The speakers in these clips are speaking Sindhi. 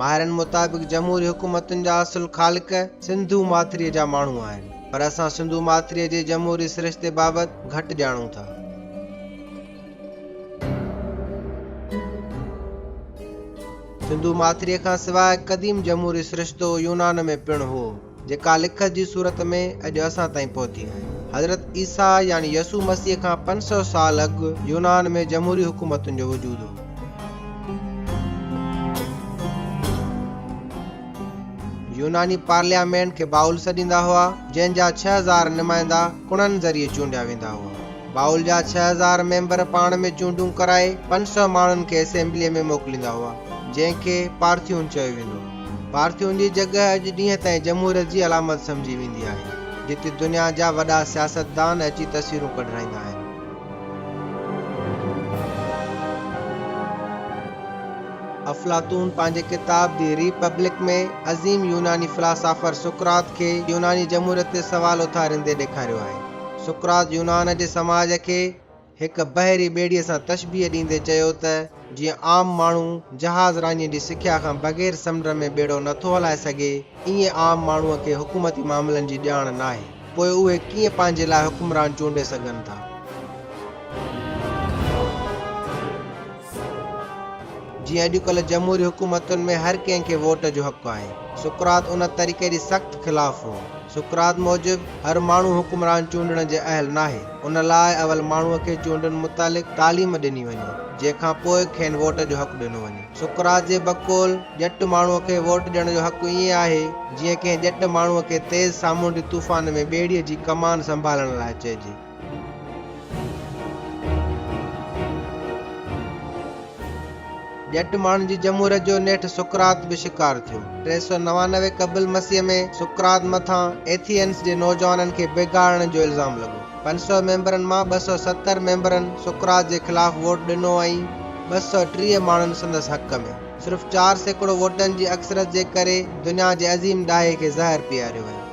ماهرن مطابق جمهوري حڪومتن جا اصل خالق سنڌو ماٿريء جا ماڻهو آهن، پر اسان سنڌو ماٿريء جي جمهوري سرشتي بابت گهٽ ڄاڻون ٿا. سنڌو ماٿريء کان سواء قديم جمهوري سرشتو يونان ۾ پڻ هو. جيڪا لکت جي صورت ۾ اڄ اسان تائين پهتي آهي. حضرت عيسيٰ يعني يسوع مسيح کان پنج سؤ سال اڳ يونان ۾ جمهوري حڪومتن جو وجود هو. يوناني پارليامينٽ کي باؤل سڏيندا هئا، جنهن جا ڇهه هزار نمائندا ڪڻن ذريعي چونڊيا ويندا هئا. باؤل جا ڇهه هزار ميمبر پاڻ ۾ چونڊون ڪرائي پنج سؤ ماڻهن کي اسيمبليء ۾ موڪليندا هئا، جنهن کي پارٿيون چيو ويندو هو. پارٿيون جي جڳهه اڄ ڏينهن تائين جمهوريت جي علامت سمجهي ويندي آهي، جتي دنيا جا وڏا سياستدان اچي تصويرون ڪڍرائيندا آهن. افلاطون پنهنجي ڪتاب دي ري پبلڪ ۾ عظيم يوناني فلاسافر سقراط کي يوناني جمهوريت تي سوال اٿاريندي ڏيکاريو آهي. سقراط يونان جي سماج کي. هڪ بحري ٻيڙيء سان تشبيهه ڏيندي چيو ته جيئن عام ماڻهو جهاز راڃي جي سکيا کان بغير سمنڊ ۾ ٻيڙو نه ٿو هلائي سگهي، ائين عام ماڻهوء کي حڪومتي معاملن جي ڄاڻ ناهي، پوء اهي ڪيئن پنهنجي لاء حڪمران چونڊي سگهن ٿا؟ جيئن اڄڪلهه جمهوري حڪومتن ۾ هر ڪنهن کي ووٽ جو حق آهي. سقراط ان طريقي جي سخت خلاف هو. سقراط موجب هر ماڻهو حڪمران چونڊڻ جي اهل ناهي. ان لاء اول ماڻهوء کي چونڊن متعلق تعليم ڏني وڃي، جنهن کان پوء کين ووٽ جو حق ڏنو وڃي. سقراط جي بقول ڄٽ ماڻهوء کي ووٽ ڏيڻ جو حق ائين آهي، جيئن ڪنهن ڄٽ ماڻهوء کي تيز سامونڊي طوفان ۾ ٻيڙيء جي ڪمان سنڀالڻ لاء چئجي. ڄٽ ماڻهن جي جمهوريت جو نيٺ سقراط به شڪار ٿيو. ٽي سؤ نوانوي قبل مسيح ۾ سقراط مٿان ايٿينس جي نوجوانن کي بيگاهڻ جو الزام لڳو. پنج سؤ ميمبرن مان ٻه سؤ ستر ميمبرن سقراط جي خلاف ووٽ ڏنو ۽ ٻه سؤ ٽيهه ماڻهن سندس حق ۾. صرف چار سيڪڙو ووٽن جي اڪثريت جي ڪري دنيا جي عظيم ڏاهي کي زهر پياريو ويو.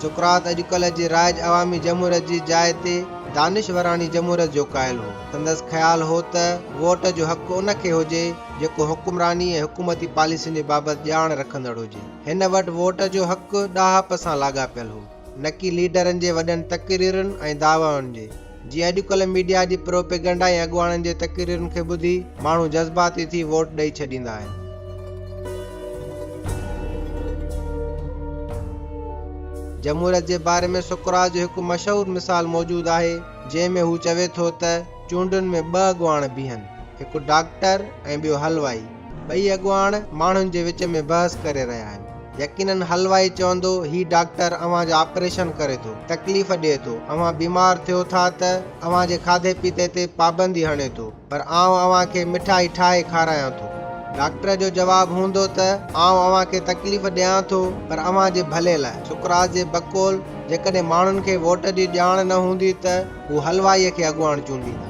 سقراط اڄڪلهه جي رائج عوامي جمهوريت جي جاء تي دانشوراڻي جمهوريت جو قائل هو. سندس خيال هو ته ووٽ جو حق ان کي هجي جيڪو حڪمراني ۽ حڪومتي پاليسين جي بابت ڄاڻ رکندڙ هجي. هن وٽ ووٽ جو حق ڏاهپ سان لاڳاپيل هو. نڪي ليڊرن جي وڏن تقريرن ۽ دعوائن جي، جيئن اڄڪلهه ميڊيا جي پروپيگنڊا ۽ اڳواڻن جي تقريرن کي ٻڌي ماڻهو جذباتي ٿي ووٽ ڏئي ڇڏيندا آهن. جمهوريت جي باري ۾ سقراط جو هڪ مشهور مثال موجود آهي، جنهن ۾ هو چوي ٿو ته چونڊن ۾ ٻه اڳواڻ بيهن، هڪ ڊاڪٽر ۽ ٻيو حلوائي. ٻئي اڳواڻ ماڻهن جي وچ ۾ بحث ڪري رهيا آهن. يقينن حلوائي چوندو هي ڊاڪٽر اوهان جو آپريشن ڪري ٿو، تڪليف ڏئي ٿو، اوهان بيمار ٿيو ٿا ته اوهان جي کاڌي پيتي تي پابندي هڻي ٿو پر آئون اوهان کي مٺائي ٺاهي کارايان ٿو. ڊاڪٽر جو جواب هوندو ته آئون اوهان کي تڪليف ڏيان ٿو پر اوهان جي ڀلي لاء. سقراط جي بقول جيڪڏهن ماڻهن کي ووٽ جي ڄاڻ نه هوندي ته هو حلوائيء کي اڳواڻ چونڊيندا.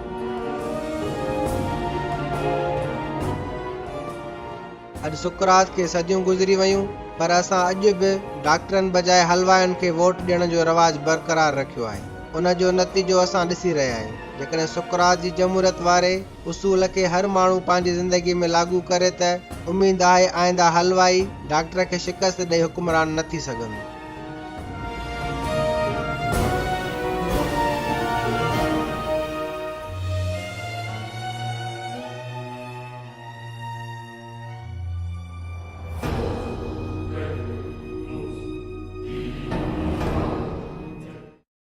اڄ سقراط کي صديون گذري ويون، پر اسان اڄ به ڊاڪٽرن بجاء حلوائين کي ووٽ ڏيڻ جو رواج برقرار رکيو آهي. ان جو نتيجو اسان ڏسي رهيا آهيون. جيڪڏهن سقراط جي جمهوريت واري اصول کي هر ماڻهو پنهنجي زندگي ۾ لاڳو ڪري ته اميد آهي آئنده حلوائي ڊاڪٽر کي شڪست ڏئي حڪمران نه ٿي سگهندو.